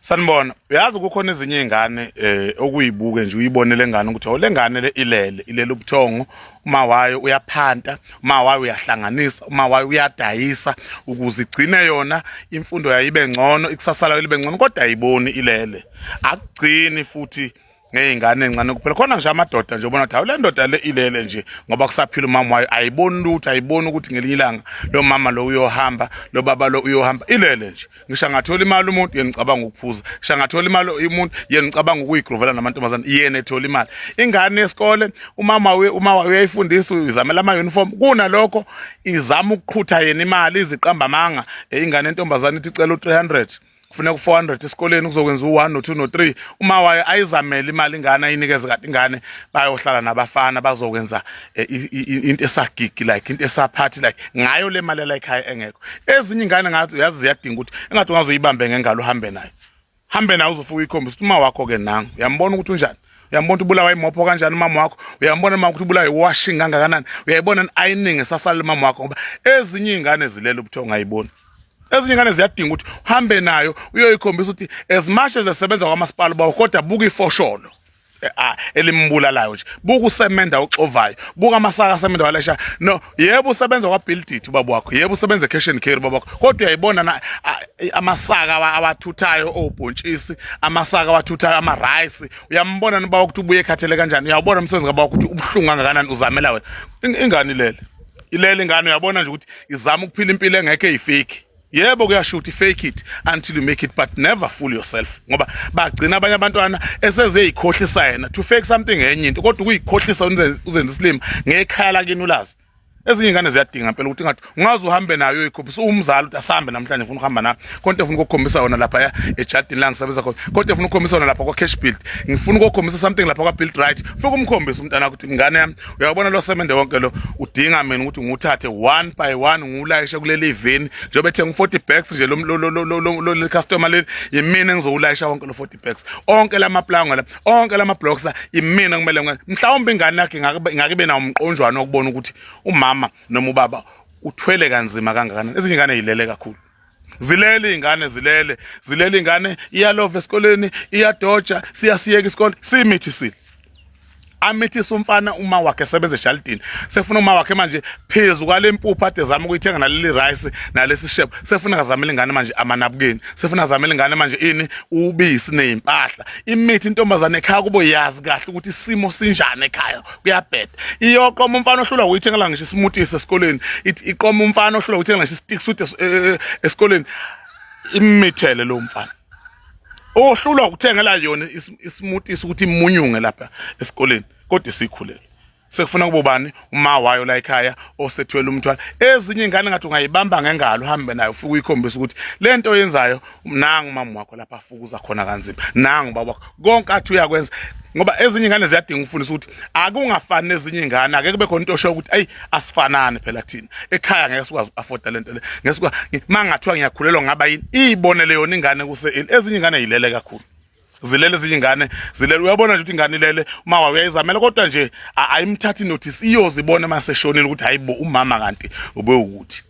sanibona uyazi kukhona ezinye iy'ngane um eh, okuyibuke nje uyibone le ngane ukuthi le ngane le ilele ilele ubuthongo uma wayo uyaphanta uma wayo uyahlanganisa uma wayo uyadayisa ukuze igcine yona imfundo yayo ibe ngcono ikusasa layo libe ngcono kodwa ayiboni ilele akugcini futhi ngey'ngane encane kuphela khona nje amadoda nje ubona ukuthi hawu le ndoda le ilele nje ngoba kusaphila umama wayo ayiboni lutho ayiboni ukuthi ngelinye ilanga lo mama lo uyohamba lo baba lo uyohamba ilele nje ngisho angathola imali umuntu yena ngicabanga ukuphuza ngisho angathola imali umuntu yena ngicabanga ukuyigrovela namantombazane yena ethola imali ingane yesikole umama we uma wayo uyayifundisa izamela ama-uniform kunalokho izama ukuqhutha yena imali iziqamba amanga ingane entombazane ithi icela u-300 kufuneka u-400 esikoleni kuzokwenza u-1 no-2 no-3 uma wayo ayizamele imali ingane ayinikeze kade ingane bayohlala nabafana bazokwenza eh, into esagigi like into esaphathi like ngayo le mali yalayikhaya engekho ezinye ingane ngathi uyazi ziyadinga ukuthi engathi ungazoyibambe ngengalo uhambe nayo hambe nayo uzofuka ikhombisa ukuthi uma wakho-ke nangu uyambona ukuthi unjani uyambona ukuthi ubulawa imopho kanjani umama wakho uyambona mama ukuthi ubulawa iwashing kangakanani uyayibona ining esasala umama wakho ngoba ezinye iy'ngane zilela ubuthongo ayiboni ezinye ingane ziyadinga ukuthi uhambe nayo uyoyikhombisa ukuthi as much as esebenza kwamasipala bawo kodwa buka ifosholo eh, ah, elimbulalayo nje buka usemenda oxovayo buka amasaka asemenda walesha no yebo usebenza kwabuildit ubaba wakho yebo usebenza cash and carry ubaba wakho kodwa uyayibona na ah, eh, amasaka awathuthayo obhontshisi amasaka awathuthayo ama rice uyambona ubaba ukuthi ubuye ekhathele kanjani uyawubona umsebenzi kababa ukuthi ubuhlungu kangakanani uzamela wena ingani lele ilele ingane uyabona nje ukuthi izama ukuphila impilo engekho eyifiki yebo kuyasho ukuthi fake it until you make it but never fool yourself ngoba bagcina abanye abantwana esezeyikhohlisa yena to fake something enye into kodwa ukuyikhohlisa uzenza isilima ngekhaya lakini ulazi ezinye ingane ziyadinga impela ukuthi ngathi ungaze uhambe nayo uyikhophisa uwumzali ukuthi asambe namhlanje ufuna ukuhamba nayo konke ufuna ukukhombisa wona lapha ya ejardini la ngisebenza khona konke ufuna ukukhombisa wona lapha kwa-cash build ngifuna ukukhombisa something lapha kwa-build right ufike umkhombise umntana ukuthi ingane yami uyabona lo semende wonke lo udinga mina ukuthi ngiwuthathe one by one ngiwulayishe kuleli ivini njengoba ethe ngu-40 bags nje leli customer leli yimina engizowulayisha wonke lo 40 bags onke la maplanga la onke la mablocks la yimina kumele mhlawumbe ingane yakhe ingake ibe nawo umqonjwana wokubona ukuthi umama noma ubaba uthwele kanzima kangakanani ezinye ingane yilele kakhulu zilele iy'ngane zilele zilele iy'ngane iyalova esikoleni iyadoja siyasiyeka isikole simithi sile amithisa umfana uma wakhe sebenze eshalidini sefuna uma wakhe manje phezu kwale mpuphu ade zama ukuyithenga naleli rice nalesi shebo sefuna kazamela ingane manje amanabukeni sefuna kazamela ingane manje ini ubisi nezimpahla imithi intombazane ekhaya kubo yazi kahle ukuthi isimo sinjani ekhaya kuyabheda iyoqoma umfana ohlula uyithengela ngisho ismoothie sesikoleni iqoma umfana ohlula uyithengela ngisho istick suit eh, eh, eh, esikoleni imithele lo mfana ohlulwa ukuthengela yona ismoothie ukuthi imunyunge lapha esikoleni kodwa isikhulele sekufuna kubobani uma wayo la ekhaya osethwele umthwalo ezinye ingane ngathi ungayibamba ngengalo uhambe nayo ufike uyikhombisa ukuthi lento oyenzayo nangu mama wakho lapha afukuza khona kanzima nangu baba wakho konke athi uyakwenza ngoba ezinye ingane ziyadinga ukufundisa ukuthi akungafani nezinye ingane ake kube khona into osho ukuthi ayi asifanani phela thina ekhaya ngeke sikwazi afforda lento le ngeke sikwazi mangathiwa ngiyakhulelwa ngaba yini ibonele yona ingane kuse ezinye ingane yilele kakhulu zilele ezinye ingane zilele uyabona nje ukuthi ingane ilele umawa uyayizamela kodwa nje ayimthathi notice iyozibona uma seshonile ukuthi hayibo umama kanti ube ukuthi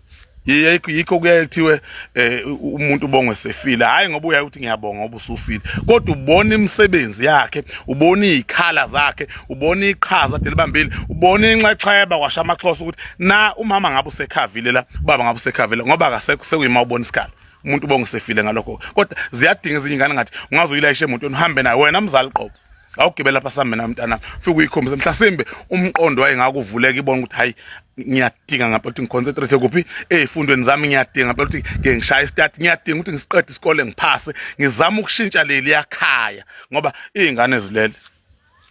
yikho kuyaye kuthiwe eh, umuntu ubongwe sefile hayi ngoba uyaye ukuthi ngiyabonga ngoba usufile kodwa ubona imisebenzi yakhe ubona izikhala zakhe ubona iqhaza delibambile ubona inxexheba kwasha amaxhosa ukuthi na umama ngabe usekhavile la ubaba ngabe usekhavile ngoba akasekho sekuyima ubona isikhala umuntu bongisefile ngalokho kodwa ziyadinga ezinye ingane ngathi ungaze uyilayishe emotweni uhambe nayo wena mzali qobo awugibela lapha sambe na mntana fika uyikhombise mhlasimbe umqondo wayengakuvuleka ibona ukuthi hayi ngiyadinga ngapha ukuthi ngiconcentrate kuphi ezifundweni zami ngiyadinga ngapha ukuthi ngeke ngishaye istart ngiyadinga ukuthi ngisiqede isikole ngiphase ngizama ukushintsha leli yakhaya ngoba izingane zilele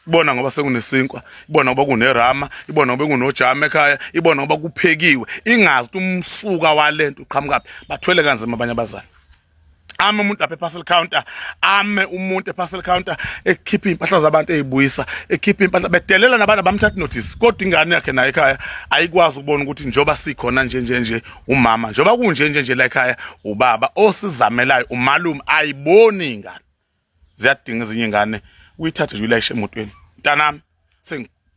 ibona ngoba sekunesinkwa ibona ngoba kunerama ibona ngoba kunojama ekhaya ibona ngoba kuphekiwe ingazi ukuthi umsuka walento uqhamukaphi bathwele kanzima abanye abazali ame umuntu lapha eparcel counter ame umuntu eparcel counter ekhipha impahla zabantu ezibuyisa ekhipha impahla bedelela nabantu abamthatha notice kodwa ingane yakhe naye ekhaya ayikwazi ukubona ukuthi njoba sikhona nje nje nje umama njoba kunje nje nje la ekhaya ubaba osizamelayo umalume ayiboni ingane ziyadinga ezinye ingane uyithathe nje ulayishe emotweni mntanami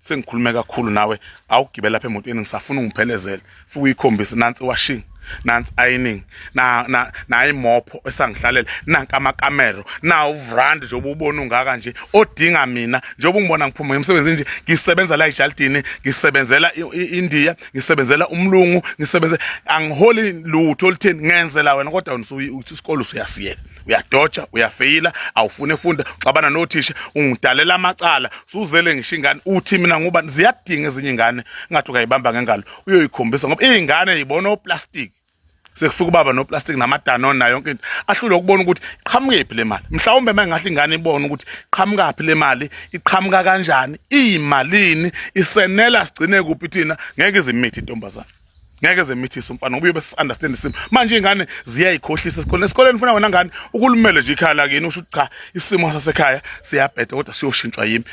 sengikhulume kakhulu nawe awugibela lapha emotweni ngisafuna ungiphelezele futhi uyikhombise nansi washing nansi ironing na na nayimopho esangihlalela nanka amakamero na uvrand nje ububona ungaka nje odinga mina njengoba ungibona ngiphuma ngemsebenzi nje ngisebenza la eJaldini ngisebenzela iIndia ngisebenzela umlungu ngisebenze angiholi lutho olutheni ngenzela wena kodwa usuyi isikole usuyasiyeka uyadoja uyafeyila awufune funda uxabana nothisha ungidalela amacala suzele ngisho ingane uthi mina ngoba ziyadinga ezinye ingane ngathi ukayibamba ngengalo uyoyikhombisa ngoba izingane yibona oplastic sekufika ubaba noplastic namadanone nayo yonke into ahlule ukubona ukuthi iqhamukephi le mali mhlawumbe uma ingahle ingane ibone ukuthi iqhamukaphi le mali iqhamuka kanjani iyimalini isenela sigcine kuphi thina ngeke izimithi intombazane ngeke zemithise umfana ngoba uyobe understand isimo manje ingane ziyayikhohlisa esikoleni esikoleni ufuna wena ngane ukulumele nje ikhaya lakini usho ukuthi cha isimo sasekhaya siyabheda kodwa siyoshintshwa yimi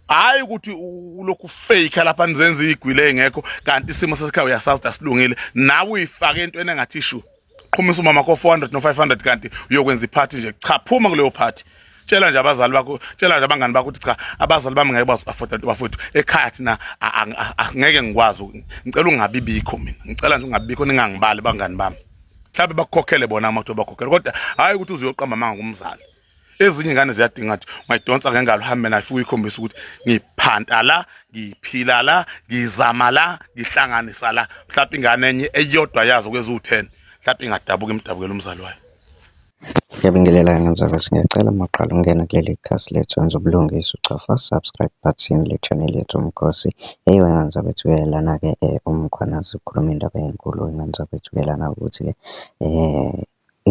hayi ukuthi ulokhu fake lapha nizenza igwile engekho kanti isimo sasekhaya uyasazi asilungile nawe uyifake entweni engathi ishu qhumisa umama ko 400 no 500 kanti uyokwenza iphathi nje cha phuma kuleyo phathi tshela nje abazali bakho tshela nje abangani bakho ukuthi cha abazali bami ngeke bazoafforda bafowethu ekhaya thina ngeke ngikwazi ngicela ungabi bikho mina ngicela nje ungabi bikho ningangibali bangani bami mhlawumbe bakukhokhele bona amadoda bakhokhele kodwa hhayi ukuthi uzoyoqamba amanga kumzali ezinye ingane ziyadinga ukuthi ungayidonsa ngengalo uhambe nayo fike uyikhombise ukuthi ngiphanta la ngiphila la ngizama la ngihlanganisa la mhlawumbe ingane enye eyodwa yazo kweziwu-ten mhlawumbe ingadabuka imdabukela umzali wayo Ngiyabingelela ngenzalo singacela uma uqala ukungena kuleli khasi lethu wenza ubulungisa uchofa subscribe button le channel yethu umkhosi eyiwe nganza bethu kuyelana ke eh, umkhwanazi ukhuluma indaba enkulu nganza bethu kuyelana ukuthi ke eh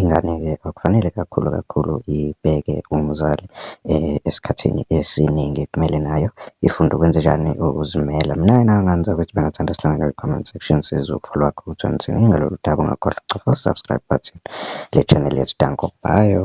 Ingane-ke akufanele kakhulu kakhulu ibheke umzali esikhathini esiningi. Kumele nayo ifunde ukwenzenjani? Ukuzimela. Mina-ke engangingamenzela ukuthi bengathanda sihlangane kwi-comment section sizwe ukufa lwakhe ukuthi wenzeni ngalolu daba. Ungakhohlwa ukucofa u-subscribe button le channel yethu. Danko, bhayo.